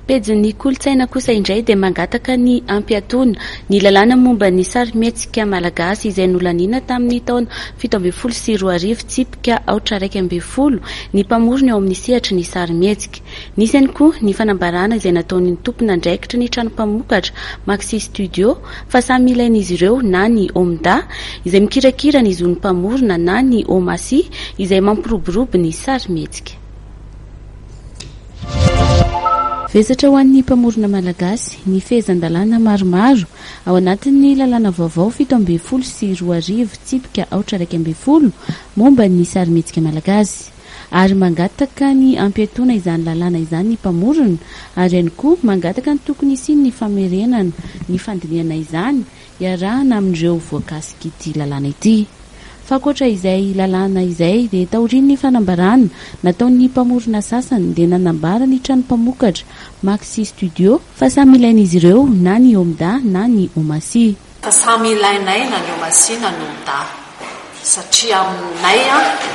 Pejin'ny kolontsaina kosa indray dia mangataka ny hampiatoana ny lalàna momba ny sarimihetsika malagasy izay nolaniana tamin'ny taona fito ambin'ny folo sy roa arivo tsipika aotra iraika ambin'ny folo ny mpamorona eo amin'ny sehatry ny sarimihetsika. Nisy ihany koa ny fanambarana izay nataon'ny tompon'andraikitry ny trano mpamokatra Maxi Studio fa samy ilain'izy ireo na ny Omda izay mikirakira ny zon'ny mpamorona na ny Omasi izay mampiroborobo ny sarimihetsika. Vesatra ho an'ny mpamorona malagasy ny fehezan-dalàna maromaro ao anatin'ny lalàna vaovao fito ambin'ny folo sy roa arivo tsipika aotra iraika ambin'ny folo momba ny sarimihetsika malagasy ary mangataka ny hampiatoana izany lalàna izany ny mpamorona ary ihany koa mangataka ny tokony hisian'ny famerenana ny fandinihana izany iarahana amin'ireo voakasik'ity lalàna ity. Fa ankoatra izay lalàna izay dia taorian'ny fanambarana nataon'ny mpamorona sasany dia nanambara ny trano mpamokatra Maxi Studio fa samy ilain'izy ireo na ny Omda na ny Omasia. Fa samy ilainay na ny Omasia na ny Omda. satria aminay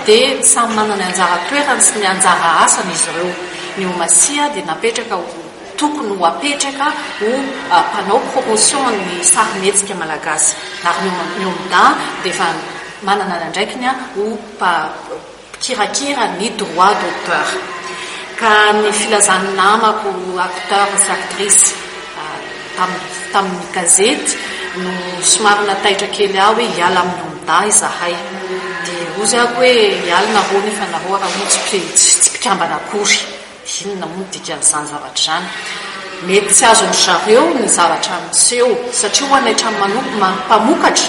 dia samy manana ny anjara toerany sy ny anjara asany izy ireo, ny ho Masìa dia napetraka ho tokony ho apetraka ho mpanao promotion an'ny sarimihetsika malagasy ary ny ho Miomda dia efa manana ny andraikiny ho mpikirakira ny droit d'auteur ka ny filazan'ny namako acteurs sy actrices tamin'ny tamin'ny gazety no somary nataitra kely ahy hoe hiala amin'ny Omda izahay dia hozy aho hoe hiala nareo nefa nareo raha hono tsy tsy mpikambana akory. Inona moa ny dikan'izany zavatra izany? Mety tsy azon-dry zareo ny zavatra miseho, satria ho anay hatrany manokana, mpamokatra,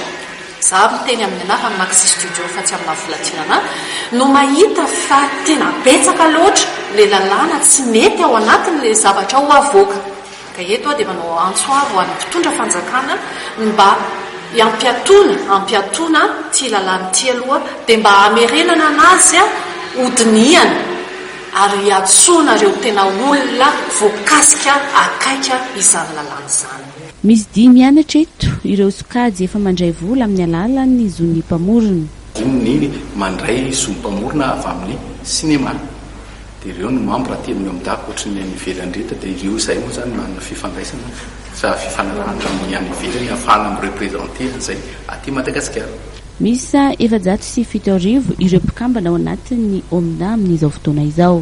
izaho ary miteny amin'ny anaran'i Maxi Studio fa tsy amin'ny maha Volantinana ahy, no mahita fa tena betsaka loatra ilay lalàna tsy mety ao anatiny ilay zavatra ho avoaka. Ka eto aho dia manao antso avo ho an'ny mpitondra fanjakana ny mba hiampiatoana ampiatoana ity lalàna ity aloha dia mba hamerenana anazy ho dinihana ary hiantsoana ireo tena olona voakasika akaiky izany lalàna izany. Misy dihy mianatra eto ireo sokajy efa mandray vola amin'ny alalan'ny zon'ny mpamorona. Diniho ny mandray zon'ny mpamorona avy amin'ny sinema. Dia ireo no membre telo ny ao amin'ny dago ohatry ny any ivelany rehetra dia ireo izay moa izany manana fifandraisana sa fifanarahana amin'ny any ivelany ahafahana mi-representer an'izay aty Madagasikara. Miisa efajato sy fito arivo ireo mpikambana ao anatin'ny Omda amin'izao fotoana izao.